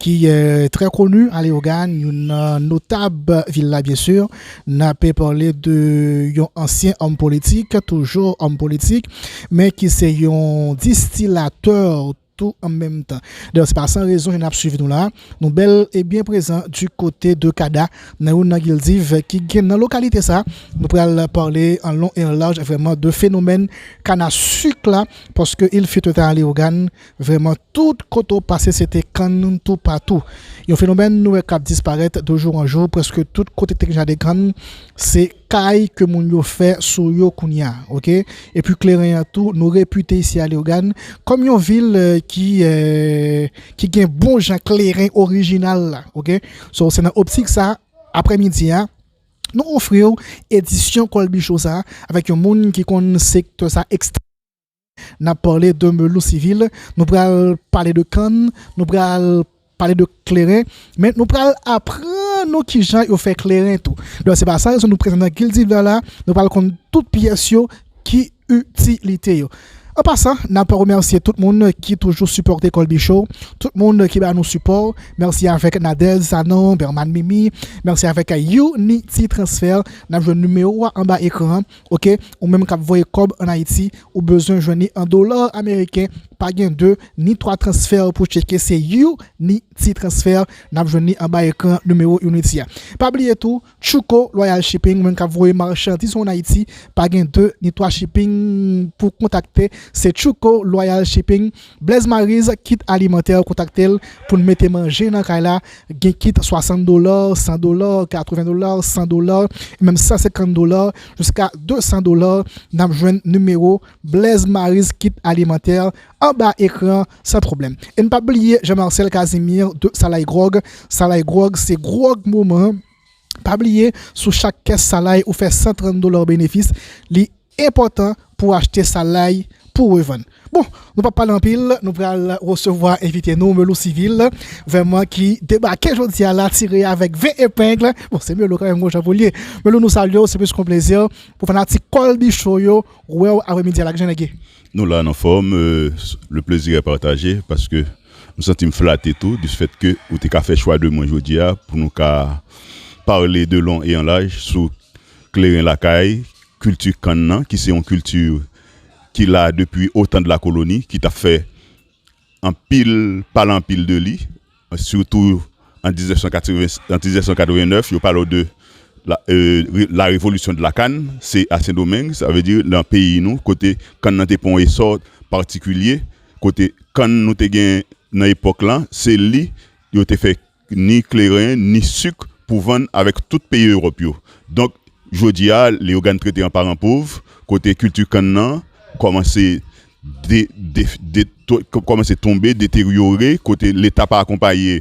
ki trè koni a Leyogàn, youn nan notab vil la byen sur, n ape pale de yon ansyen òm politik, toujou òm politik, men ki se yon distilatè tou an menm tan. Dayè se pa san rezon ke n ap swiv nou la, nou bèl e byen prezan di kote de Cada, nan youn nan gildiv ki gen nan lokalite sa, nou pral pale an lon e an laj vrèman de fenomèn kanasuk la, paske il fut un temps à Leyogàn, Vrèman, tout kote w pase se te kann toupatou. Yon fenomèn nou wè k ap disparèt dejou an jou, prèske tout kote te gen jaden kann, se kay ke moun yo fè sou yo kounye a. Ok. Epi kleren an tou, nou repite isi a Leyogàn kòm yon vil ki ki gen bon jan kleren orijinal la. Ok. So, se nan optik sa, aprèmidi a, nou ofri w edisyon Kolbi Show sa avèk yon moun ki konn sektè sa ekstrèmman byen. N ap pale de melon sivil, nou pral pale de kann, nou pral pale de kleren, men nou pral aprann nou kijan yo fè kleren tou. Donk se pa san rezon nou prezan nan Kiltivè la, nou pral konn tout pyès yo, ki itilite yo. An pasan, n ap remèsye tout moun ki toujou sipòte Colby Show, tout moun ki ba nou sipò, mèsi avèk Nadège Sanon, Bermane Mimi, mèsi avèk Unity Transfer, n ap jwenn nimewo a anba ekran an, Ok ou menm kap voye kob an ayiti ou bezwen jwenn li an dollar ameriken pa gen 2 ni 3 transfer pou tcheke se you ni ti transfer nap jwenn li anba ekran nimewo unity a pa bliye tou tchouko loyal shipping ou menm kap voye marchandiz ou an ayiti pa gen 2 ni 3 shipping pou kontakte se tchouko loyal shipping. Blaise Maryse kit alimantè kontakte l pou l mete manje nan kay la gen kit 60 dola, 100 dola, 80 dola, 100 dola, e menm 150 dola jiska 200 dola n ap jwenn nimewo Blaise Maryse kit alimantè anba ekran an san pwoblèm e n p ap bliye Jean Marcel Casimir de Salay Gròg Salay Gròg se gròg moman pa bliye sou chak kès Salay ou fè 130 dola benefis li Enpòtan pou achte sa lay pou revann. Bon, nou pap pale anpil, nou pral resevwa envite nou Melou Civil, vèman ki debake jodi a la tire avèk 20 epengle, bon se Melou kanmenm gon jan pou l ye. Melou nou salye w, se plis kon plezi pou fanatik Colby Show yo wè w aprè midi a la, kijan nèg ye? Nou la n anfòm, le plaisir est partagé paske m santi m flate tou dispfèt ke ou te ka fè chwa de mwen jodi a pou nou ka pale de lon e an laj sou kleren lakay, Kilti kann nan ki se yon kilti ki la depi otan de la koloni ki ta fè anpil pale anpil de li sitou an 1989 yo pale w de la revolisyon de la kann se a sendomeng sa vle di nan peyi nou kote kann nan te pran yon esò patikilye kote kann nou te gen nan epòk lan se li yo te fè ni kleren, ni suk pou vann avèk tout peyi Ewòp yo. Donk, jodi a, Leyogàn trete an paran pov, kote kilti kann nan kòmanse kòmanse tonbe, deteryore, kote Leta pa akonpaye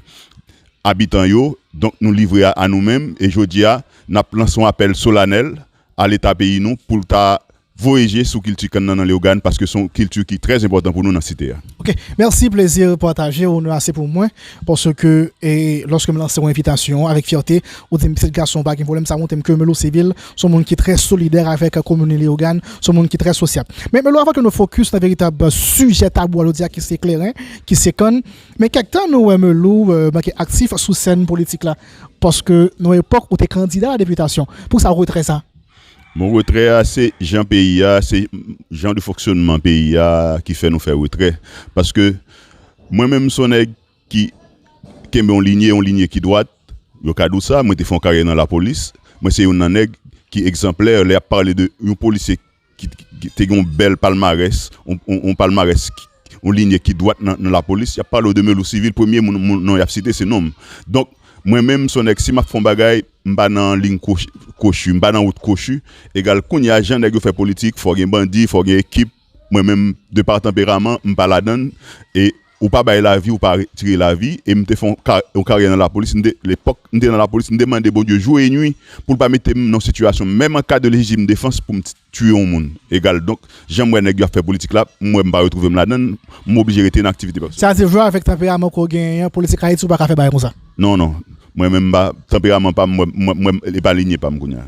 abitan yo. Donk, nou livre a a nou menm. E jodi a, n ap lanse yon apèl solanèl a leta peyi nou pou l ta voye je sou kilti kann nan nan Leogane paske se yon kilti ki trè enpòtan pou nou nan site a. Ok mèsi plezi pataje onè a se pou mwen paske lòske m lanse yon envitasyon avèk fyète ou di m pitit gason pa gen pwoblèm sa montre m ke Melo Civil se yon moun ki trè solidè avèk kominote Leogane se yon moun ki trè sosyab men Melo avan ke nou fokis nan veritab sijè tabou a jodi a ki se kleren ki se kann men kèk tan nou wè Melo manke aktif sou sèn politik la. Paske nan epòk ou te kandida a la deputasyon. Pou sa retrè sa? Bon retrè a se jan peyi a, se jan de fonksyonman peyi a ki fè nou fè retrè. Paske mwen menm m son nèg ki kenbe yon linye, yon linye ki dwat. Yo ka di w sa, mwen te fè yon karyè nan lapolis. Mwen se youn nan nèg ki egzanplè lè y ap pale de yon polisye ki te gen yon bèl palmarès, yon palmarès, yon linye ki dwat nan lapolis, y ap pale w de Melou Sivil, premye moun non y ap site se non m. Donk, mwen menm m son nèg si m ap fè yon bagay, m pa nan liy kwochi, m pa nan wout kwochi, egal kounye a jan nèg yo fè politik, fò gen bandi, fò gen ekip, mwen menm de par tanperaman, m pa ladann e Ou pa bay lavi ou pa retire lavi e m te fè yon karyè nan lapolis m te lepòk m te nan lapolis m te mande Bondye jou e nwi pou l pa mete m nan yon sitiyasyon menm an ka de lejitim defans pou m t tiye yon moun egal donk jan m wè nèg yo ap fè politik la m wè m pa retwouve m ladann m oblije rete nan aktivite pèsonèl. Sa di vre avèk tanperaman ke w genyen an politik ayiti ou pa ka fè bagay konsa. Non non mwen menm m pa tanperaman pa m m wè m wè m e pa linye pa m kounya.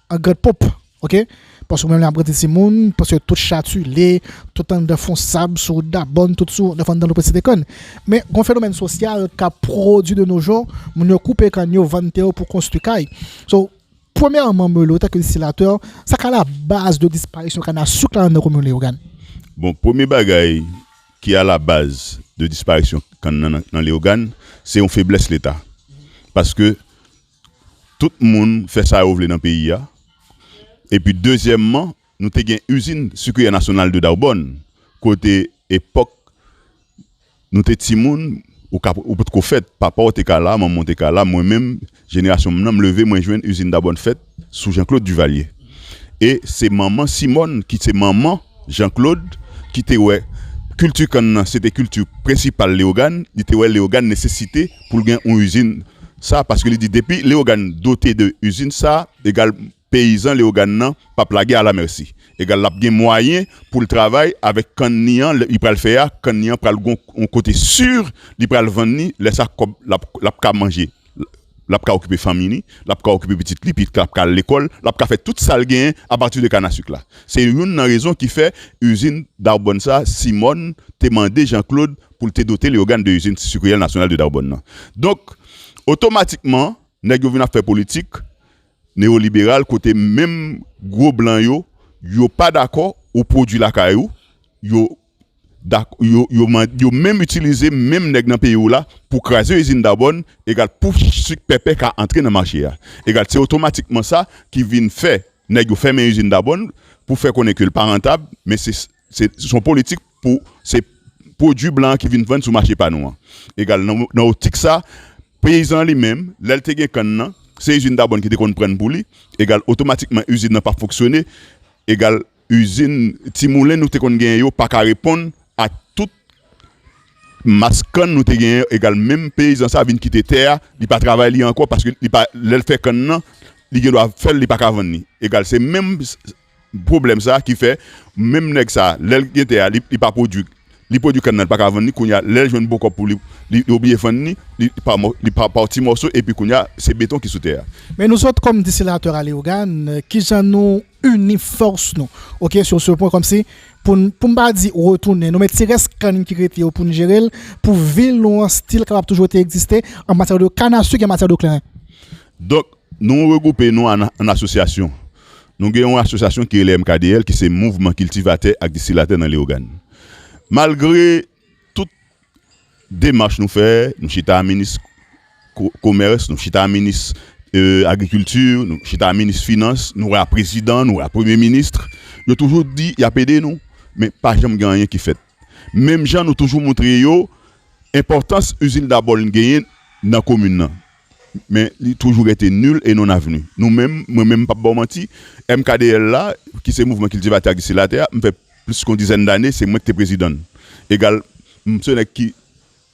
An grand pomp ok paske mwen menm ap grandi timoun paske tout chatule tout anndan fon sab sou wout dabòn tout sou nèf anndan loupèt site kann men gon fenomèn sosyal kap pwodwi de no jou moun yo koupe kann yo vann tè yo pou konstwi kay so premyèman mwen lota kiltilatè sa ka la baz de disparisyon kann a souk la anndan komin leyogann. Bon premye bagay ki a la baz de disparisyon kann nan nan leyogann se yon feblès leta paske Tout moun fè sa yo vle nan peyi a. Epi dezyèmman, nou te gen Izin Sucrière Nationale de Daubonne kote epòk nou te timoun ou pot ko fèt, papa w te ka la, manman w te ka la, mwen menm jenerasyon m nan m leve mwen jwenn Izin Dabòn fèt sou Janklod Divalye. E se manman Simòn ki se manman Janklod ki te wè kilti kann nan se te kilti prensipal Leyogàn, li te wè Leyogàn nesesite pou l gen yon izin sa paske li di depi Leyogàn dote de izin sa egal peyizan Leyogàn nan p ap lage alamèsi egal l ap gen mwayen pou l travay avèk kann ni an li pral fè a kann ni an pral gon yon kote si li pral vann ni lè sa kòb l ap ka manje l ap ka okipe fanmi ni l ap ka okipe pitit li pitit la ap ka al lekòl l ap ka fè tout sa l genyen apati de kanasik la se youn nan rezon ki fè izin darbòn sa Simòn te mande Janklod pou l te dote Leyogàn de izin sikriyèl nasyonal de Dawbòn nan. Donk, otomatikman, nèg yo vin ap fè politik neyoliberal kote menm gwo blan yo, yo pa dakò ou pwodui lakay ou, yo yo menm itilize menm nèg nan peyi w la pou kraze izin Dawbòn, egal pou sik pèpè ka antre nan mache a. Egal, se otomatikman sa ki vin fè nèg yo fèmen izin Dawbòn pou fè konnen ke l pa rantab, men se. Se yon politik pou se pwodui blan an ki vin vann sou mache pa nou an. Egal, nan optik sa, peyizan an li menm, lè l te gen kann nan, se izin Dabòn ki te konn prann pou li, egal, otomatikman izin nan pa fonksyone, egal, izin, ti moulen nou te konn genyen yo pa ka reponn a tout mas kann nou te genyen yo, egal, menm peyizan sa vin kite tè a, li pa travay li ankò paske li pa, lè l fè kann nan, li gen dwa fè l, li pa ka vann li. Egal, se menm. Pwoblèm sa ki fè menm nèg sa lè l gen tè a li pa pwodui li pwodui kann nan li paka vann li kounye a lè l jwenn bon kòb pou li li oblije vann li li pa mò li pa ti mòso epi kounye a se beton ki sou tè a. Men nou sot kòm disilatè a Leyogann kijan nou ini fòs nou ok sou se pwen kòmsi pou n pou m pa di retounen nou men ti rès kann ki rete yo pou n jere l pou vil nou an stil kapab toujou rete egziste an matyè de kannasuk e an matyè de kleren. Donk nou regwoupe nou an asosyasyon. Nou gen yon asosyasyon ki rele MKDL ki se Mouvman Kiltivatè ak Distilatè nan Leyogàn. Malgre tout demach nou fè, nou chita a minis komès, nou chita a minis agrikilti, nou chita a minis finans, nou a prezidan, nou a premye minis, yo toujou di y ap ede nou, men pa janm gen anyen ki fèt. Menm jan nou toujou montre yo enpòtans izin Daboln genyen nan komin nan. Men li toujou rete nul et non avenu. Nou menm, mwen menm m pap ba w manti, MKDL la, ki se Mouvman Kiltivatè ak Disilatè a, m fè plis ke yon dizèn dane, se mwen ki te prezidan l. Egal, m se nèg ki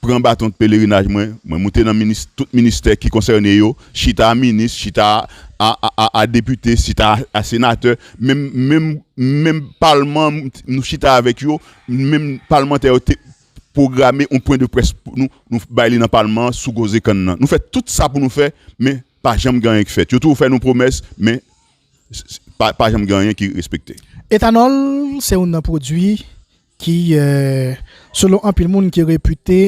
pran baton de pelerinaj mwen, mwen moute nan minis, tout ministè ki konsène yo, chita a minis, chita a depite, chita a senatè, menm, menm, menm palman, nou chita avèk yo, menm palmantè yo te pwograme yon pwen de près pou nou, nou bay li nan palman an sou koze kann nan. Nou fè tout sa pou nou fè men pa janm gen anyen ki fèt. Yo toujou fè nou pwomès men pa janm gen anyen ki respekte. Etanòl se youn nan pwodui ki selon anpil moun ki repite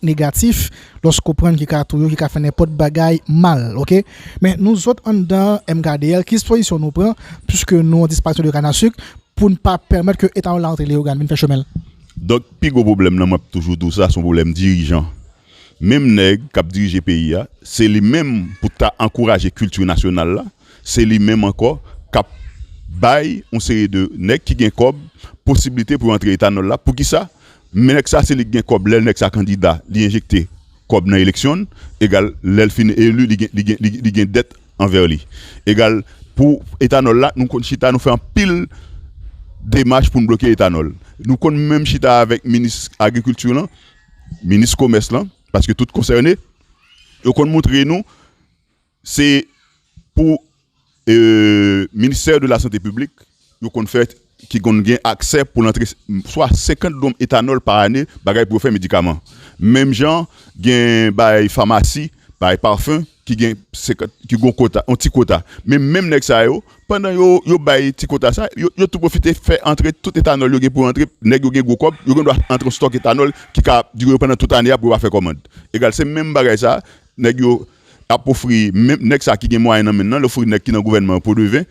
negatif lòske w pran l ki ka touye w, ki ka fè nenpòt bagay mal ok. Men nou zòt anndan MKDL ki dispozisyon nou pran pwiske nou an disparisyon de kanasik pou n pa pèmèt ke etanòl la antre Leyogàn vin fè chemen l? Donk pi gwo pwoblèm lan map toujou di w sa son pwoblèm dirijan. Menm nèg kap dirije peyi a, se li menm pou t ka ankouraje kilti nasyonal la, se li menm ankò kap bay yon seri de nèg ki gen kòb posiblite pou yo antre etanòl la. Poukisa? Men nèg sa se li ki gen kòb lè nèg sa kandida li enjekte kòb nan eleksyon egal lè l fin eli li gen dèt anvè li egal pou etanòl la nou konn chita nou fè anpil demach pou n bloke etanòl nou konn menm chita avèk minis agrikilti lan minis komès lan paske tout konsène yo konn moutre nou se pou ministè de la sante piblik yo konn fè ki konn gen aksè pou l antre swa 50 dwonm etanòl pa ane bagay pou yo fè medikaman menm jan gen bay famasi bay pafen ki gen 50 ki gon kota yon ti kota men menm nèg sa yo pandan yo yo bay ti kota sa yo yo tou pwofite fè antre tout etanòl yo gen pou yo antre nèg yo gen gwo kòb yo gen dwa antre yon stòk etanòl ki ka ap dire yo pandan tout ane a pou yo pa fè kòmand egal se menm bagay sa nèg yo ap ofri menm nèg sa ki gen mwayen nan men l lan l ofri nèg ki nan gouvènman an po de ven.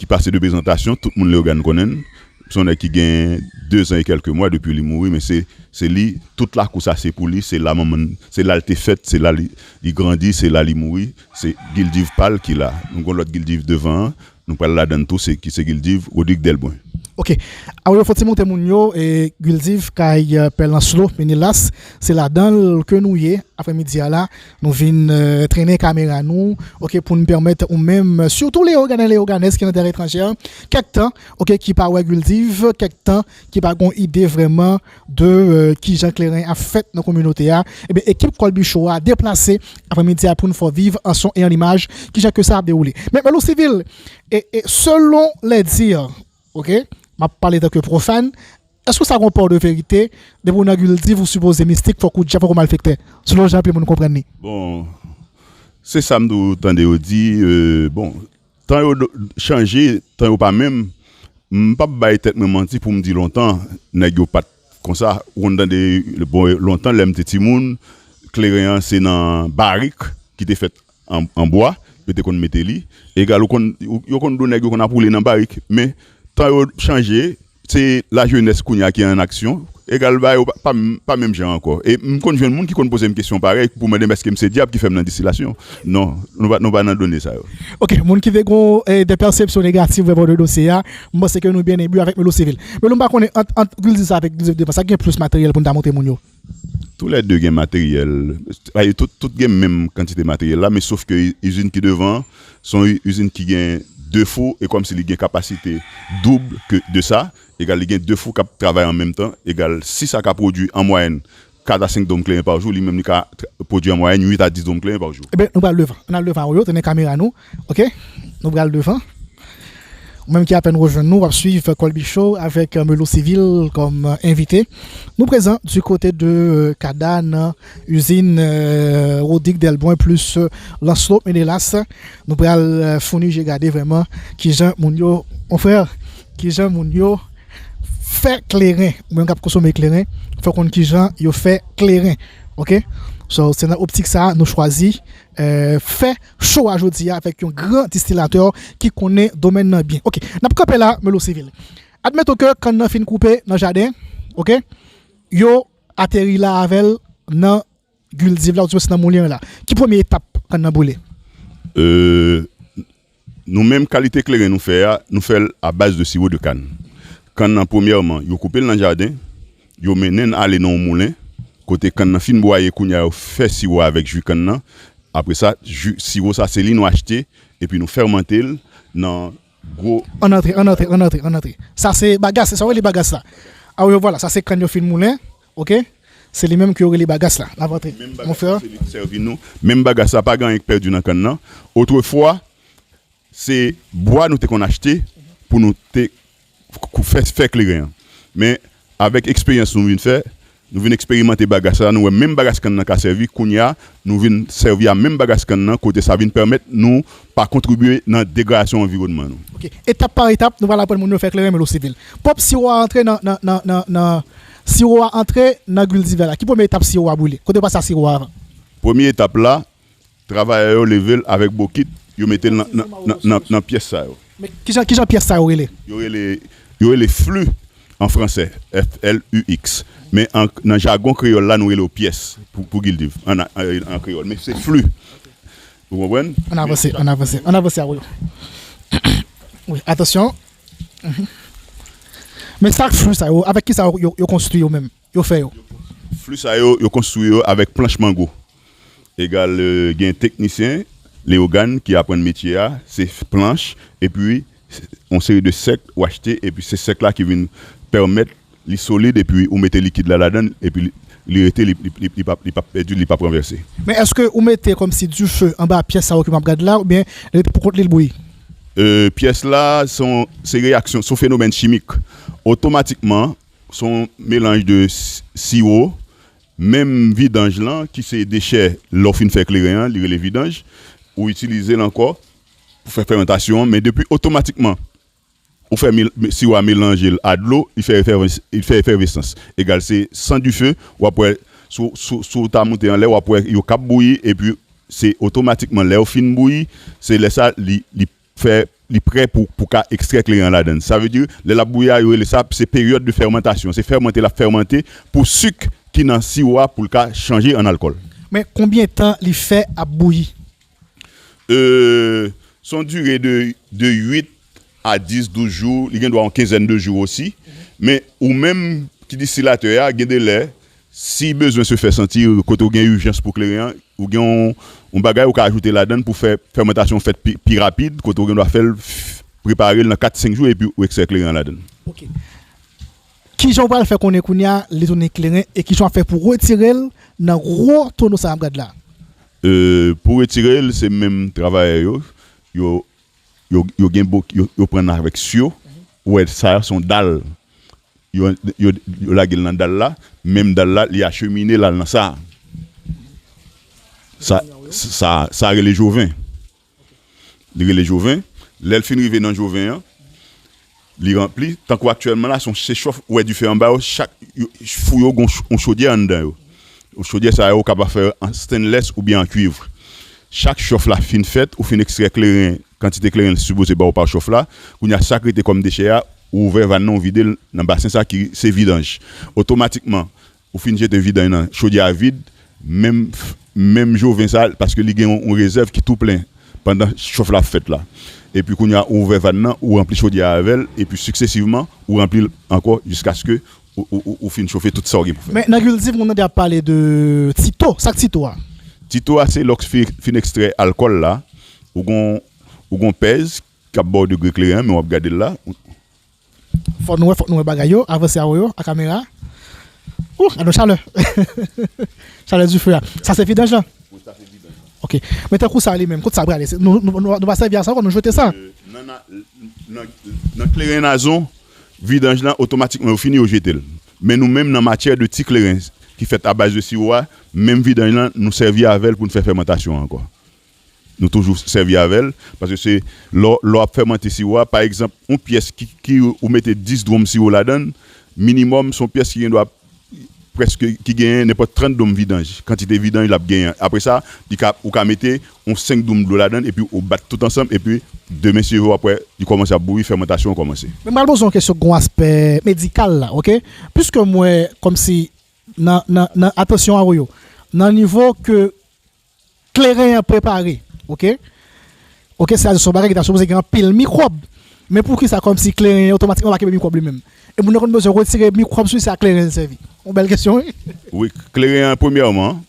ki pase de prezantasyon, tout moun Leogane konnen l, son nèg ki gen dezan e kèlke mwa depi li mouri men se se li tout lakou sa se pou li, se la manman n, se la l te fèt, se la li li grandi, se la li mouri, se gildiv pa l ki la, nou gon lòt gildiv devan an, nou pral ladan l tou se ki se gildiv Rodrigue Delbrun. Ok. Aw yo fon ti moute moun yo e gildiv kay pè lanslo menelas se ladan l ke nou ye aprè midi a la. Nou vin trennen kamera nou ok pou n pèmèt ou menm sitou Leogane Leoganes ki nan tè etranjè kèk tan ok ki pa wè Guldiv kèk tan ki pa gon ide vrèman de kijan kleren ap fèt nan kominote a ebyen ekip Kolby Show a deplase apremidi a pou n fè viv an son e an imaj kijan ke sa ap dewoule men Bèlou Sivil e selon lè di ok m ap pale tanke pwofàn. Èske w sa gon pò de verite, depi w nan gil div ou sipoze mistik fòk ou djab fòk ou malfektè, selon jan anpil moun konprann li. Bon se sam tou tande yo di bon tan yo chanje tan yo pa menm m pap bay tèt mwen manti poum di lontan nèg yo pat konsa ou konn tande bon lontan lèm te timoun kleren an se nan barik ki te fèt An bwa, yo te konn mete li. Egal ou konn, yo konn do nèg yo konn ap woule nan barik. Men, tan yo chanje, se la jenès kounye a ki an aksyon. Egal bagay yo pa, pa menm jan ankò. E m konn jwenn moun ki konn poze m kesyon parèy pou mande m èske m se dyab ki fè m nan distilasyon. Non, nou pa, nou pa nan done sa yo. Ok, moun ki te gon de pèsepsyon negatif vrèman de dosye a, m panse ke nou byen enbi avèk Melo Civil. Melo, m pa konnen ant, ant kilti sa avèk kilti devans, sa ki gen plis materyèl pou n ta montre moun yo? Tou lè 2 gen materyèl, sa di tout tout gen menm kantite materyèl la men sof ke izin ki devan an se yon izin ki gen 2 fou e kòm si li gen kapasite doub ke de sa, egal li gen 2 fou k ap travay an menm tan, egal si sa ka pwodui an mwayèn 4 a 5 dwòm kleren pa jou, li menm li ka pwodui an mwayèn 8 a 10 dwòm kleren pa jou. Enben nou pral devan, ann al devan yo, tenen kamera nou, Ok nou pral devan. Ou menm ki apèn rejwenn nou wap swiv Colby Show avèk Melo Civil kòm envite. Nou prezan di kote de Cada nan izin Rodick Delbrun plis Lancelot Menelas. Nou pral founi je gade vrèman kijan moun yo, mon frère, kijan moun yo fè kleren. Ou menm kap konsome kleren fè w konn kijan yo fè kleren. Ok, so se nan optik sa nou chwazi fè show a jodi a avèk yon gran distilatè ki konnen domèn nan byen ok nap kanpe la melo sivil admeton ke kann nan fin koupe nan jaden ok yo ateri la avèl nan guldiv la ouzwen se nan moulen an la ki premye etap kann nan boule? Nou menm kalite kleren nou fè a, nou fè l a baz de siwo de kann. Kann nan premyèman, yo koupe l nan jaden, yo mennen n ale nan yon moulen, kote kann nan fin bwaye kounye a yo fè siwo a avèk ji kann nan. Apre sa, ji, siwo sa se li nou achte epi nou fèmante l nan gwo. Ann antre, ann antre, ann antre, ann antre. Sa se bagas, se sa w rele bagas la? Awivwala, sa se kann yo fin moulen, Ok se li menm ke yo rele bagas la nap antre mon frère. Se li ki sèvi nou menm bagas la pa gen anyen ki pèdi nan kann nan otrefwa se bwa nou te konn achte pou nou te fè kleren an men avèk eksperyans nou vin fè nou vin eksperimante bagas la nou wè menm bagas kann nan ka sèvi kounya nou vin sèvi a menm bagas kann nan kote sa vin pèmèt nou pa kontribye nan degradasyon anviwònman nou. Ok etap par etap nou pral aprann moun yo fè kleren men lo sivil pwòp siwo a antre nan. Siro a antre nan gwil diven la. Ki premye etap siro a boule? Kote yo pase ak siro a avan? Premye etap la, travayè yo leve l avèk bokit, yo mete l nan pyès sa yo. Men, kijan pyès sa yo rele? Yo rele flu an franse, F-l-u-x. Men, nan jagon kreyòl la, nou rele yo pyès pou gwil diven an kreyòl. Men, se flu. Ou konprann? An avanse, an avanse, an avanse awoy. Wi, atansyon. Men sak flou sa yo, avèk kisa yo konstwi yo menm? Yo fè yo? Flou sa yo, yo konstwi yo avèk planch mango. Egal gen teknisyen Leyogàn ki aprann metye a, se planch epi yon seri de sèk ou achte epi se sèk la ki vin pèmèt li solid epi ou mete likid la ladann epi li rete li pap pèdi li pap ranvèse. Men èske ou mete kòmsi dife anba pyès sa yo ke map gad la oubyen li rete pou kont li li bouyi? Pyès la se reyaksyon son fenomèn chimik otomatikman son melanj de siwo menm vidanj lan ki se dechè lè ou fin fè kleren an li rele vidanj ou itilizel ankò pou fè fèmantasyon an men depi otomatikman ou fè siwo a melanje l a dlo li fè efèvesans egal se san dife wap wè si w ta moute anlè wap wè yo kap bouyi epi se otomatikman lè yo fin bouyi se lè sa li fè li prè pou w ka ekstrè kleren an ladan sa vle di lè lap bouyi a yo rele sa se peryòd de fèmantasyon se fèmante lap fèmante pou sik ki nan siwo a pou l ka chanje an alkòl. Men konbyen tan li fè ap bouyi? Se yon dire de 8 a 10, 12 jou, li gen dwa yon kenzèn de jou osi. Men ou menm ki distilatè a, gen de lè, si bezwen se fè santi, kote ou gen ijans pou kleren an, ou gen yon bagay ou ka ajoute ladan l pou fè fèmantasyon an fèt pi rapid, kote ou gen dwa fè l, prepare l nan 4, 5 jou epi ou ekstrè kleren an ladan l. Ok. Ki jan ou pral fè konnen kounye a li tounen kleren e ki jan w ap fè pou retire l nan gwo tono sa a m ap gad la? Pou retire l se menm travayè yo yo gen bok yo pran avèk syo ou wè sa se yon dal yo lage l nan dal la menm dal la li achemine l al nan sa sa rele joven. Li rele Joven. Lè l fin rive nan Joven an, li ranpli. Tankou aktyèlman la, se yon sechòf. Ou wè dife anba yo, chak fou yo gen yon chodyè anndan yo. Chodyè sa yo, ou kapab fè yo an stennlès oubyen an kuiv. Chak chòf la fin fèt, ou fin ekstrè kleren, kantite kleren l sipoze ba w pa chòf la. Kounye a, sa k rete kòm dechè a, ou ouvè vàn nan, ou vide l nan basen sa ki se vidanj. Otomatikman, Ou fin jete vidanj nan chodyè a vid menm menm joven sa paske li gen yon rezèv ki tou plen pandan chof la ap fèt la epi kounye a ou ouvè vàn nan ou ranpli chodyè a avèl epi siksesivman ou ranplil ankò jiskaske ou fin chofe tout sa ou gen pou fè. Men nan kilti moun tande ap pale de ti to, sak ti to a? Ti to a se lòk fin ekstrè alkòl la ou gon ou gon pèz kap baw degre kleren an men wap gadel la. Fok nou wè fok nou wè bagay yo avanse awo yo a kamera ooh gadon chalè chalè dife a sa se vidanj lan Wi sa se vidanj lan. Ok men tankou sa li menm kot sa prale nou pa sèvi a sa ankò nou jete sa. Nan kleren nazon vidanj lan otomatikman yo fini yo jetel men nou menm nan matyè de ti kleren ki fèt a baz de siwo a menm vidanj lan nou sèvi avèl poun fè fèmantasyon ankò Nou toujou sèvi avè l, paske se lè w lè w ap fèmante siwo a, pa egzanp, yon pyès ki ki ou mete 10 dwonm siwo ladan l, minimòm s on pyès ki gendwa prèske ki genyen nenpòt 30 dwonm vidanj, kantite vidanj l ap genyen an. Apre sa, li ka ou ka mete yon 5 dwonm dlo ladan l epi ou bat tout ansanm epi demen si yo vle w ap wè li kòmanse ap bouyi, fèmantasyon an kòmanse. Men m pral poze yon kesyon ki gen yon aspè medikal la ok, piske m wè kòmsi nan nan nan atansyon a ou yo nan nivo ke Kleren an prepare ok. Ok sa se yon bagay ki ta sipoze gen anpil mikwòb men poukisa kòmsi kleren an otomatikman pa kenbe mikwòb li menm? E moun nan konn bezwen retire mikwòb sou li se a kleren li sèvi? Yon bèl kesyon wi. Wi kleren an premyèman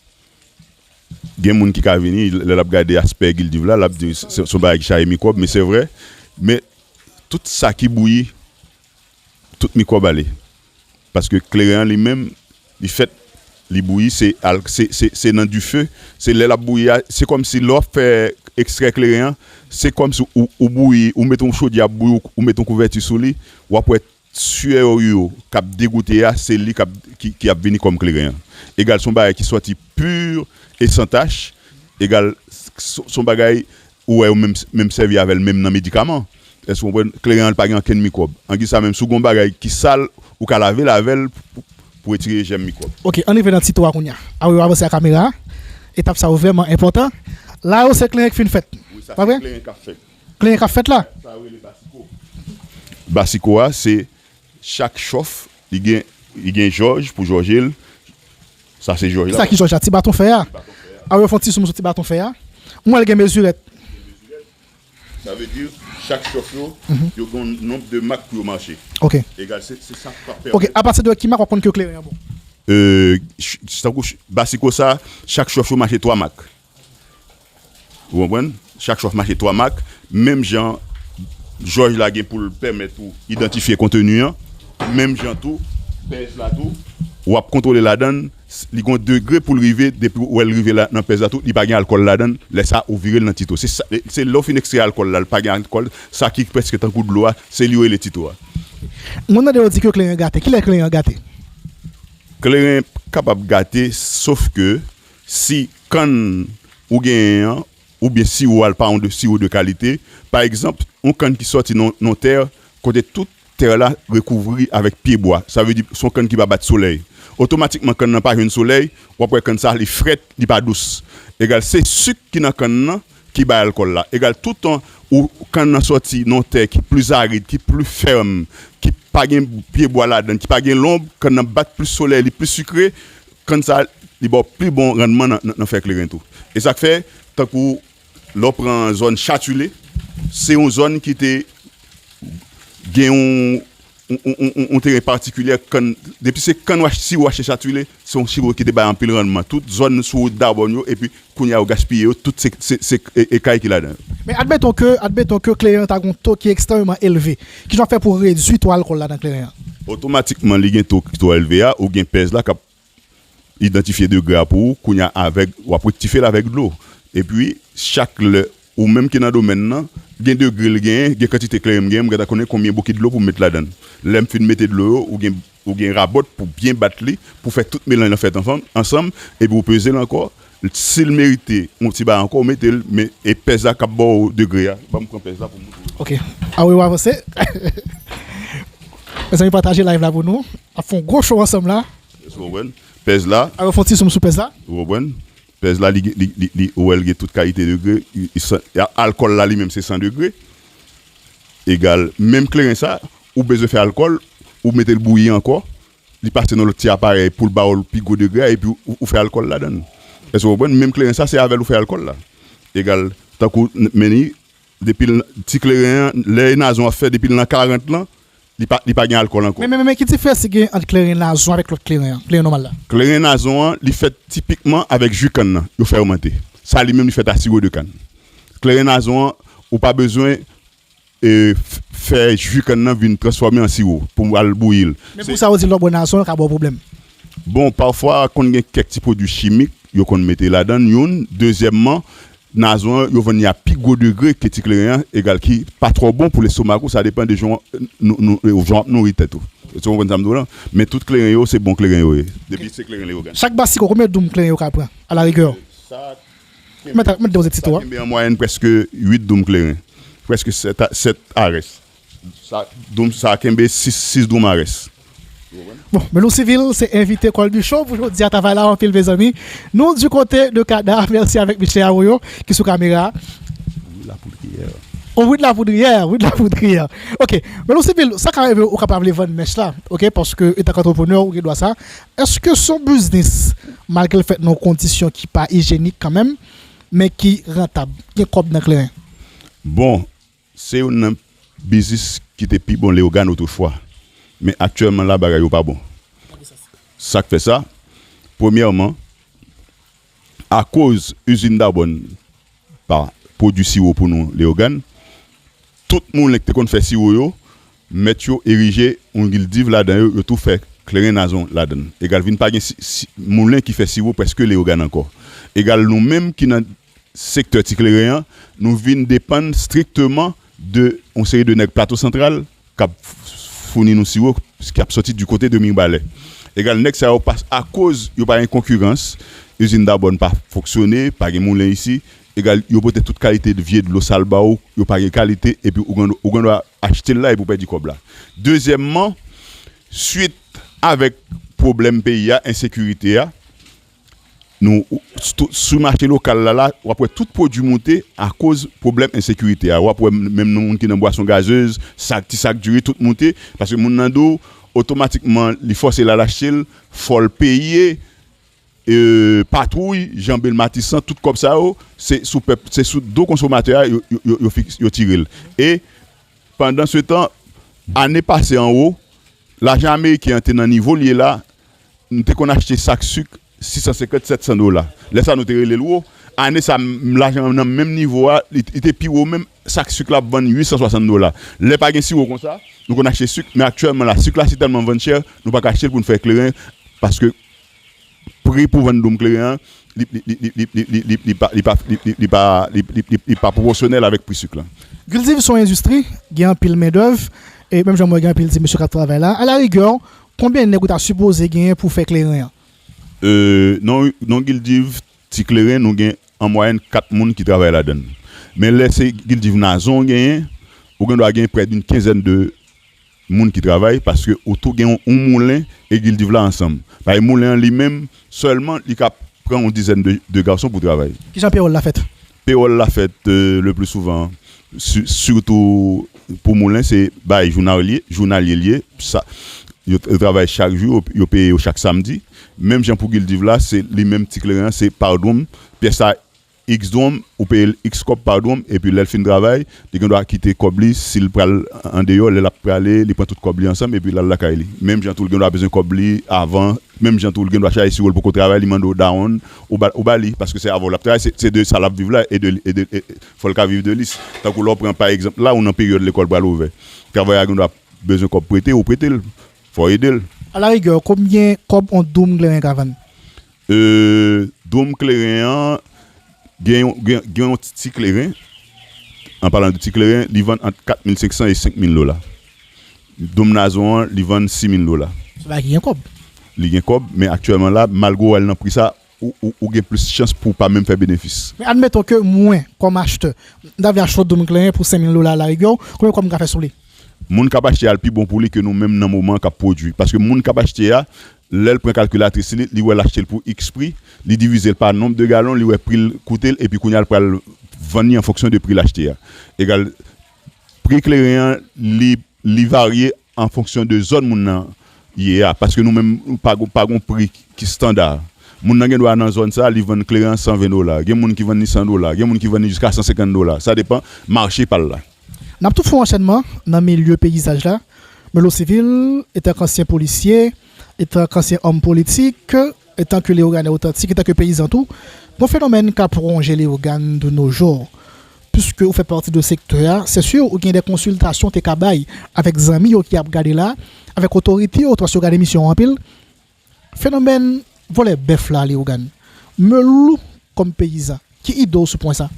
gen moun ki ka vini lè lap gade aspè gildiv la lap di se yon bagay ki chaje mikwòb men se vre men tout sa ki bouyi tout mikwòb ale. Paske kleren an li menm li fèt li bouyi se al se se nan dife se lè lap bouyi a se kòmsi lè wap fè ekstrè kleren an se kòmsi ou bouyi ou met yon chodyè ap bouyi ou met yon kouvèti sou li wap wè syè ou yo kap degoute a se li kap ki ap vini kòm kleren an egal se yon bagay ki sòti pur e san tach egal son bagay Ou wè yo menm menm sèvi avèl menm nan medikaman èske ou konprann kleren an li pa gen ankenn mikwòb angi sa menm si ou gen yon bagay ki sal ou ka lavel avèl pou retire jèm mikwòb. Ok ann rive nan ti to a kounya a wi yo avanse a kamera a etap sa yo vrèman enpòtan la yo se kleren ki fin fèt wi sa se kleren kap fèt kleren kap fèt la sa yo rele basiko basiko a se Chak chòf li gen li gen jòj pou jòje l sa se jòj la. Sa ki jòj la? Ti baton fè a. A yo fon ti zoom sou ti baton fè a. M wè l gen mezirèt. Sa vle di chak chòf yo yo gen yon nonb de mak pou yo mache. Ok. Egal se se sa k ap pèmèt. Ok apati de ki mak w ap konn ke kleren an bon? Tankou basiko sa chak chòf yo mache 3 mak. Ou konprann? Chak chwa w mache 3 mak, menm jan jòj la gen pou l pèmèt ou idantifye konteni an, menm jan tou pèz la tou w ap kontwole ladan l, li gen yon degre pou l rive, depi w wè l rive la nan pèz la tou li pa gen alkòl ladan l, lè sa ou vire l nan tito. Se lè ou fin ekstrè alkòl la, l pa gen alkòl, sa ki prèske tankou dlo a, se li yo rele tito a. Mwen mande yo di ke kleren gate, kilè kleren gate? Kleren kapab gate sof ke Si kann ou genyen an oubyen siwo a l pa yon de siwo de kalite, pa egzanp, yon kann ki sòti nan yon tè kote tout tè la rekouvri avèk pye bwa, sa vle di s on kann ki pa bat solèy, otomatikman kann nan pa jwenn solèy, w ap wè kann sa li frèt, li pa dous. Egal, se sik ki nan kann nan ki bay alkòl la. Egal, toutan ou kann nan sòti nan yon tè ki plis arid, ki plis fèm, ki pa gen pye bwa ladan l, ki pa gen lonb, kann nan bat plis solèy, li plis sikre, Kann sa li ba w pi bon rannman nan fè kleren tou. E sa k fè, tankou lè w pran zòn Chatule, se yon zòn ki te gen yon teren patikilyè kann. Depi se kann, si w achte Chatule, se yon siwo ki te bay anpil rannman. Tout zòn sou wout Dabòn yo epi Kounye a yo gaspiye yo tout se ekay ki ladan yo. Men admeton ke admeton ke kleren an ta gen yon to ki ekstrememan elve, kijan wap fè pou redwi to alkòl la nan kleren an? Otomatikman li gen to ki twò elve a, ou gen pèz la kap idantifye degre a pou ou, kounye a avèg wap rektifye l avèk dlo epi chak lè Ou menm ki nan domèn nan, gen degre l genyen, gen kantite kleren m genyen, m gen ta konnen konbyen bokit dlo pou m met ladan l. Lè m fin mete dlo yo, ou gen ou gen rabòt pou byen bat li, pou fè tout melanj lan fèt anfam ansanm, epi ou peze l ankò, si l merite yon ti bagay ankò ou mete l, men e pèz la k ap ba w degre a, ban m pran pèz la pou m montre w. Ok a wi w avanse. Mezanmi pataje live la pou nou, n ap fè yon gwo show ansanm la. Èske w konprann? Pèz la. A wi w fè yon ti zoom sou pèz la. Ou konprann? Pèz la li li li ou wèl gen tout kalite degre alkòl la li menm se 100 degre egal menm kleren sa ou bezwen fè alkòl ou metel bouyi ankò li pase nan lòt ti aparèy poul baw pi gwo degre a epi ou fè alkòl ladann èske ou konprann menm kleren sa se avèl ou fè alkòl la egal tankou menn depil ti kleren an lè e nazon ap fè depil nan 40 lan Li pa gen alkòl ankò. Men, men, men ki diferans ki gen ant kleren nazon avèk lòt kleren an, kleren nòmal la? Kleren nazon an, li fèt tipikman avèk ji kann nan, yo fèrmante. Sa li menm li fèt a siwo de kann. Kleren nazon an, ou pa bezwen fè ji kann nan vin transfòme an siwo pou al bouyi l. Men pou sa ou di lè w bwè nazon, l ka ba w pwoblèm? Bon, pafwa konn gen kèk ti pwodui chimik yo konn mete ladan l, youn. Dezyèmman, Nazon an yo vann li a pi gwo degre ke ti kleren an egal ki pa twò bon pou lestomak ou sa depan de jan w ap nouri tèt ou èske w konprann sa m di w la men tout kleren yo se bon kleren yo ye depi se kleren leyogàn. Chak bas siko konbyen doum kleren yo ka pran a la rigè? Sa kenbe an mwayèn prèske 8 doum kleren, prèske 7 arès. Doum sa kenbe 6 doum a rès. Bon Melou Civil se envite Colby Show pou jodi a travay la anpil mezanmi nou du kote de Cada merci avèk Mesye Arroyo ki sou kamera oh oui de la poudriè oui de la poudriè ok Melou Civil sa ka rive ou ka pa vle vann mèch la ok paske etan antreprenè ou gen dwa sa èske son biznis malgre l fèt nan yon kondisyon ki pa ijyenik kanmenm men ki rantab gen kòb nan kleren. Bon. Se youn nan biznis ki te pi bon Leogane otrefwa, men aktyèlman la bagay yo pa bon. Sa k fè sa? Premyèman, akoz izin Dabòn pa pwodui siwo pou nou Leogane, tout moulen ki te konn fè siwo yo, mèt yo erije yon gildiv ladan yo, yo tou fè kleren nazon ladan l. Egal vin pa gen moulen ki fè siwo prèske Leogane ankò. Egal nou menm ki nan sektè ti kleren an, nou vin depann strikteman de yon seri de nèg Plato Santral k ap founi nou siwo ki ap soti di kote de Mirbalè. Egal nèg sa yo pa akoz yo pa gen konkirans, izin Dabòn pa fonksyone, pa gen moulen isi, egal yo pote tout kalite vye dlo sal ba ou, yo pa gen kalite epi ou gen dwa achte l la epi ou pèdi kòb la. Dezyèmman, swit avèk pwoblèm peyi a, ensekirite a, Nou sou mache lokal la la, wap wè tout pwodwi moute akoz pwoblèm ensekirite a. Wap wè menm nan moun ki nan bwason gazez, sak, ti sak diri tout moute. Paske moun nan do, otomatikman li fòse l al achte l, fò l peye patwouy, janbe l matisan, tout kòb sa yo, se sou pèp, se sou do konsomatè a yo tire l. E pandan se tan, ane pase anwo, lajan ameriken an te nan nivo l ye la, M te konn achte sak suk 650, 700 dola. Lè sa nou te rele l wo. Ane sa m lajan an nan menm nivo a, li te pi wo menm, sak suk la ap vann 860 dola. Lè pa gen siwo konsa, nou konn achte suk, men aktyèlman la, suk la si tèlman vann chè, nou pa ka achte l pou n fè kleren paske pri pou vann doum kleren an, li pa pwopòsyonèl avèk pri suk la. Gildiv s on endistri, gen anpil mendèv, e menm jan m wè gen anpil ti mesye k ap travay la, alaligè Konbyen nèg ou ta sipoze genyen pou w fè kleren an? Eee non gildiv ti kleren nou gen an mwayèn 4 moun ki travay ladan l men lè se gildiv nazon w genyen ou gendwa gen prè d'un kenzèn de moun ki travay paske ou tou gen yon moulen e gildiv la ansanm pae moulen an li menm sèlman li ka pran yon dizèn de gason pou travay. Kijan peyòl la fèt? Pewòl la fèt le pli souvan sitou pou moulen se bay jounalye l ye yo travay chak jou yo peye yo chak samdi menm jan pou gildiv la se li menm ti kleren an se pa dwonm pyès la iks dwonm ou peye l iks kòb pa dwonm epi lè l fin travay Li gen dwa kite kòb li si l pral andeyò lè l ap prale li pran tout kòb li ansanm epi l al lakay li. Menm jan tou l gen dwa bezwen kòb li avan, menm jan tou l gen dwa chaje siwo l poko travay li mande w dawonn ou ba li paske se avè w l ap travay se de sa l ap viv la e de e de fò l ka viv de li tankou lè w pran pa egzanp la ou nan peryòd lekòl pral ouvè travayè a gen dwa bezwen kòb prete ou prete l fò w ede l. Alarigè konbyen kòb on doum kleren ka vann? E dwom kleren an gen yon gen yon ti ti kleren an palan de ti kleren li vann ant 4500 e 5000 dola dwom nazon an li vann 6000 dola. Se bagay ki gen kòb. Li gen kòb men aktyèlman la malgre ou al nan pri sa ou gen plis chans pou pa menm fè benefis. Men admeton ke mwen kòm achtè m ta vle achte yon dwom kleren pou 5000 dola alarigè w konbyen kòb m ka fè sou li? Moun kap achte a l pi bon pou li ke nou menm nan moman an kap pwodui paske moun kap achte a Lè l pran kalkilatris li, li wè l achte l pou iks pri, li divize l pa nonb de galon, li wè pri l koute l, epi kounye a l pral vann li an fonksyon de pri l achte a. Egal, pri kleren an, li li varye an fonksyon de zòn moun nan ye a, paske nou menm pa gon pa gon pri ki standa. Moun nan gendwa nan zòn sa a, li vann kleren an 120 dola, gen moun ki vann li 100 dola, gen moun ki vann li jiska 150 dola, sa depan mache pa l la. N ap tou fè yon anchènman nan milye peyizaj la, Melo Civil, etanke ansyen polisye, etanke ansyen òm politik, etanke Leyoganè otantik, etanke peyizan tou, yon fenomèn k ap wonje Leyogàn de no jou. Piske ou fè pati de sektè a, se si ou gen de konsiltasyon ou te ka bay avèk zanmi yo ki ap gade la, avèk otorite yo tou paske yo gad emisyon an anpil, Fenomèn vòlè bèf la Leogane Meul ou kòm peyizan ki ide w sou pwen sa?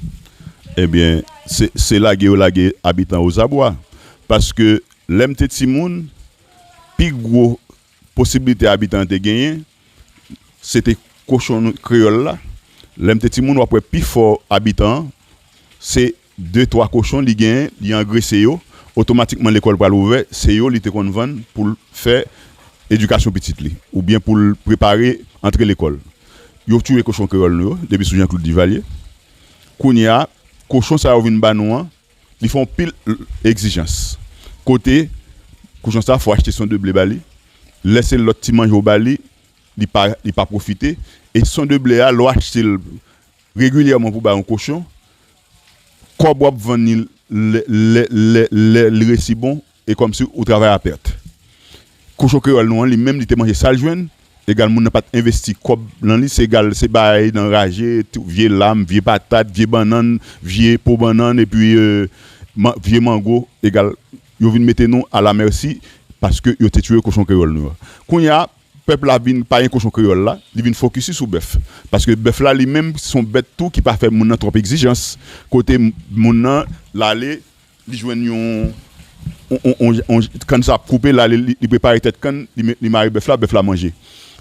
Ebyen se se lage yo lage abitan ozabwa paske lè m te timoun pi gwo posibilite abitan an te genyen se te kochon kreyòl la lè m te timoun w ap wè pifò abitan se De twa kochon li genyen, li angrese yo, otomatikman lekòl pral ouvè, se yo li te konn vann pou l fè edikasyon pitit li oubyen pou l prepare antre lekòl. Yo touye kochon kreyòl nou yo depi sou Janklod Divalye. Kounye a, kochon sa yo vin ba nou an, li fè yon pil egzijans. Kote, kochon sa a fò w achte son de ble ba li, lè se lòt ti manje ou ba li, li pa pwofite e son de ble a lè w achte l Regilyèman pou bay yon kochon kòb wap vann li lèl resi bon e kòmsi ou travay a pèt kochon kreyòl nou an li menm li te manje sal jwenn egal moun nan pat envesti kòb nan li se egal se bay nan raje tou vye lam vye patat vye bannann vye po bannann epi vye mango egal yo vin mete nou ala mèsi paske yo te tiye kochon kreyòl nou an kounya Pèp la vin payen kochon kreyòl la, li vin fokisi sou bèf. Paske bèf la li menm se yon bèt tou ki pa fè moun nan twòp egzijans. Kote moun nan, l ale, li jwenn yon kann sa ap koupe, l ale li prepare tèt kann, li mare bèf la, bèf la manje.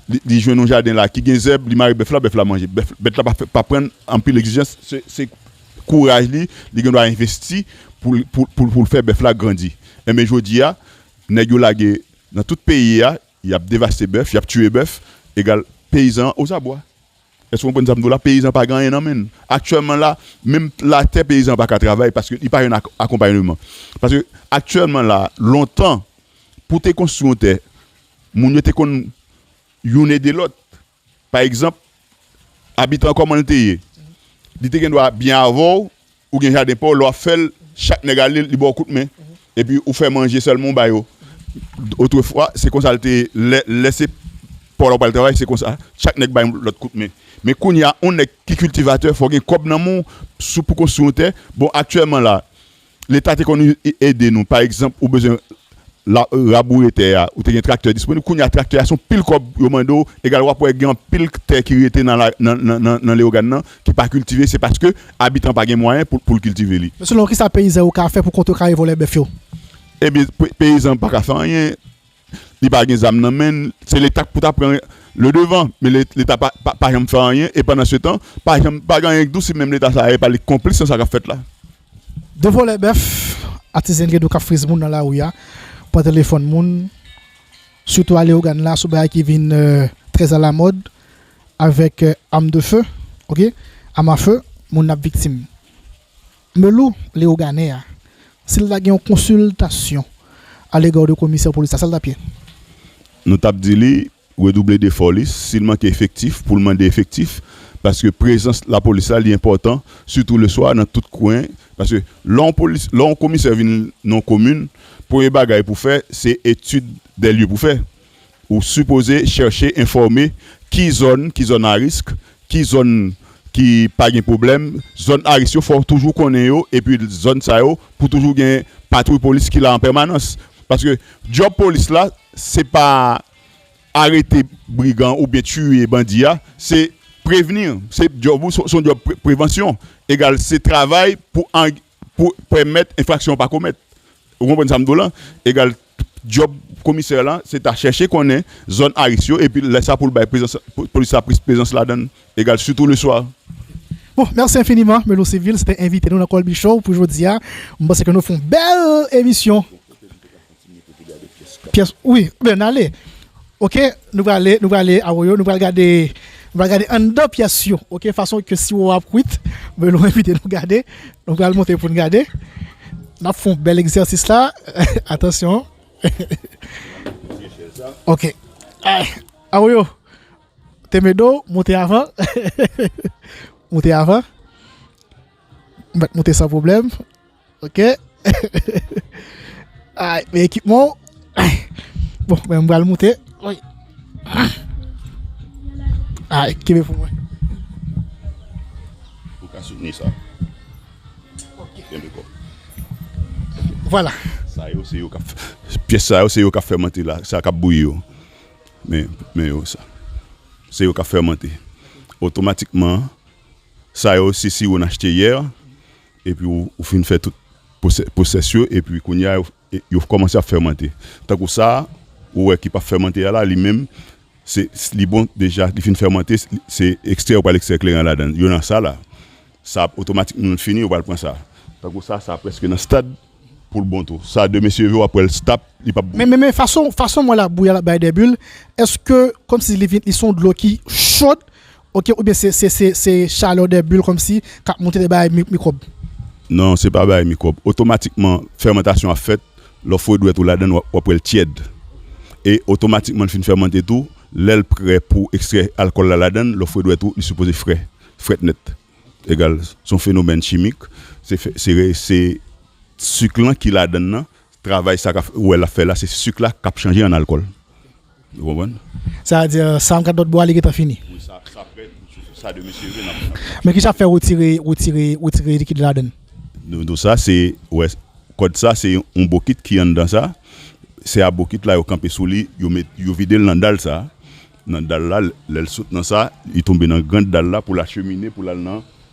Li jwenn yon jaden la ki gen zèb, li mare bèf la, bèf la manje. Bèt la pa pran anpil egzijans, se kouraj li, li gen dwa envesti pou l fè bèf la grandi. Enben jodi a, nèg yo lage nan tout peyi a, Y ap devaste bèf, y ap tiye bèf, egal peyizan an ozabwa. Èske w konprann sa m di w la? Peyizan an pa gen anyen nan men l. Aktyèlman la, menm latè peyizan an pa ka travay paske li pa jwenn akonpayneman. Paske aktyèlman la, lontan, pou w te konstwi yon tè, moun yo te konn youn ede lòt. Pa egzanp, abitan kòman l te ye? Li te gendwa byen avè w, ou gen jaden pa w, lè w ap fè l, chak nèg ale li ba w kout men, epi ou fè manje sèlman ou ba yo. Otrefwa, se konsa l te ye, lè se pa w la ou pral travay, se konsa, chak nèg bay yon lòt kout men. Men kounye a, yon nèg ki kiltivatè, fò w gen kòb nan men w pou konstwi yon tè. Bon, aktyèlman la, Leta te konn ede nou, pa egzanp ou bezwen raboure tè a, ou te gen traktè disponib, kounye a traktè a son pil kòb yo mande w, egal wap wè gen anpil tè ki rete nan Leyogàn nan ki pa kiltive, se paske abitan pa gen mwayen pou l kiltive li. Men selon w kisa peyizan yo ka fè pou kontrekare vòlè bèf yo? Ebyen peyizan pa ka fè anyen, li pa gen zam nan menn se leta k pou ta pran le devan men leta pa janm fè anyen e pandan se tan pa janm pa gen anyen k dousi menm leta sa epa li k konplis nan sa kap fèt la. 2 vòlè bèf atizen gen do kap friz moun nan lari ya pran telefòn moun sitou a leogane la sou bagay ki vin trè a la mòd avèk am de feu ok am a feu moun ap viktim. Melou Leogane a, si l ta gen yon konsiltasyon alegò de komisè polis la, sa l t ap ye? Nou t ap di li redouble defò li, si l manke efektif pou l mande efektif, paske prezans lapolis la li enpòtan, sitou leswa nan tout kwen, paske lè yon komisè vin nan yon komin, premye bagay pou fè se etid dè lye pou fè, Ou sipoze chèche enfòme ki zòn ki zòn a risk, ki zòn ki pa gen pwoblèm. Zòn a risk yo fò w toujou konnen yo epi zòn sa yo pou toujou gen patwouy polis ki la an pèmanans. Paske djòb polis la se pa arete brigan oubyen tiye bandi a, se prevenir, se djòb ou se yon djòb prevansyon egal se travay pou Pou pèmèt enfraksyon an pa komèt. Ou konprann sa m di w lan? Egal, djòb komisè lan se ta chèche konnen zòn aris yo epi lè sa pou l bay prezans polis la plis prezans ladan l. Egal, sitou leswa. Bon, mèsi enfiniman Melo Civil, se te envite nou nan Colby Show pou jodi a. M panse ke nou fè yon bèl emisyon. Pyès wi byen n ale ok nou prale nou prale awoyo nou pral gade nou pral gade anndan pyès yo ok fason ke siwo a ap kwit mwen nou envite nou gade nou pral monte pou n gade n ap fè yon bèl egzèsis la atansyon ok awoyo te me do monte avan monte avan m met monte san pwoblèm. Ok Ay men ekipman ou Bon men m pral moute Ay kenbe pou mwen Ou ka soutni sa Kenbe ko Vwala Sa yo se yo kap Pyès sa yo se yo kap fèmante la Sa kap bouyi yo Men yo sa Se yo kap fèmante Otomatikman Sa yo se siwo n achte yè Epi ou fin fè tout pwosès yo epi kounye a yo kòmanse ap fèmante. Tankou sa a ou wè ki pa fèmante a la li menm se li bon deja li fin fèmante se ekstrè ou pral ekstrè kleren an ladan l yo nan sa la sa ap otomatikman l fini ou pral pran sa tankou sa a sa a prèske nan stad pou l bon tou sa a demen seve w ap wè l stap li pap bon. Men fason mwen la bouyi a l ap bay dè bil èske kòmsi li vin li s on dlo ki chòd Ok oubyen se se se se chaleur des bulles komsi kap moute de bay mikwòb. Non se pa bay mikwòb otomatikman fèmantasyon ap fèt lè w fwe dwèt ou ladann wap wèl tyèd e otomatikman li fin fèmante tou lèl prè pou ekstrè alkòl la ladann lè w fwe dwèt ou li sipoze fre frèt nèt egal son fenomèn chimik se se se suk lan ki ladann nan Travay sa ka wè lap fè la se suk la kap chanje an alkol. Ou konprann? Sa a di sa an kat lòt bwa li gentan fini. Wi sa sa prè pou sou sa demen se vre nap nap chanje. Men kisa fè retire retire retire likid la ladann? Nou nou sa se wè kòd sa se yon bokit ki anndan sa se a bokit la yo kanpe sou li yo met yo videl nan dal sa nan dal la lèl sot nan sa li tonbe nan grand dal la poul achemine poul al nan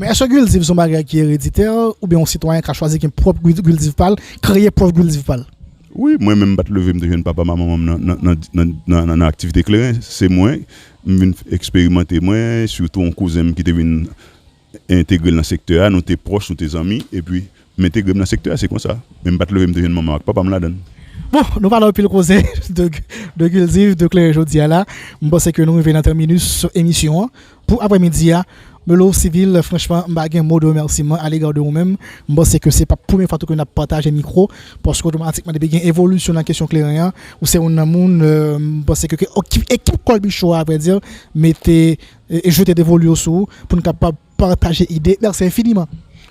Men èske gildiv son bagay ki ereditè oubyen yon sitwayen ka chwazi gen pwòp gildiv pal, kreye pwòp gildiv pal? Wi, mwen menm m pat leve m te jwenn papam ak manmanm nan nan aktivite kleren, se mwen m vin eksperimante mwen sitou yon kouzen m ki te vin entegre nan sektè a, nou te pwòch nou te zanmi epi M entegre m nan sektè a, se konsa. Men m pa t leve m te jwenn manman m ak papa m ladan l. Bon, nou pale anpil koze de kilti, de kleren jodi a la. M panse ke nou rive nan tèminus emisyon an pou aprèmidi a. Melo Civil, franchman, m pa gen mo de remèsiman alega de ou menm. M panse ke se pa premye fwa tou ke n ap pataje mikwo, paske otomatikman depi gen evolisyon nan kesyon kleren an, ou se youn nan moun m panse ke ekip Kolbicho a, avwèdi, mete, jete devolu yo sou ou pou n kapab Pataje ide merci infiniment.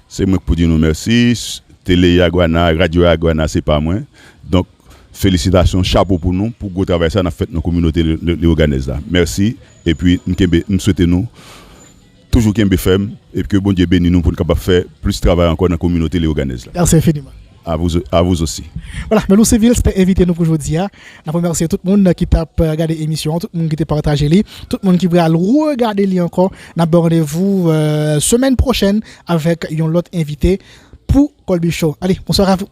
Se mwen k pou di nou mèsi, tele yaguana, radyo yaguana se pa mwen, donk felisitasyon chapo pou nou pou gwo travay sa nap fèt nan kominote leyoganèz la mèsi epi m kenbe m swete nou toujou kenbe fèm epi ke Bondye beni nou poun kapab fè plis travay ankò nan kominote leyoganèz la. Merci infiniment. A vous a vous aussi. Wala, Melou Civil se te envite nou pou jodi a. N ap remèsye tout moun ki t ap gade emisyon an, tout moun ki te pataje li, tout moun ki pral regade li ankò. N ap ba w randevou semèn pwochèn avèk yon lòt envite pou Colby Show. Ale, bonswa a vou.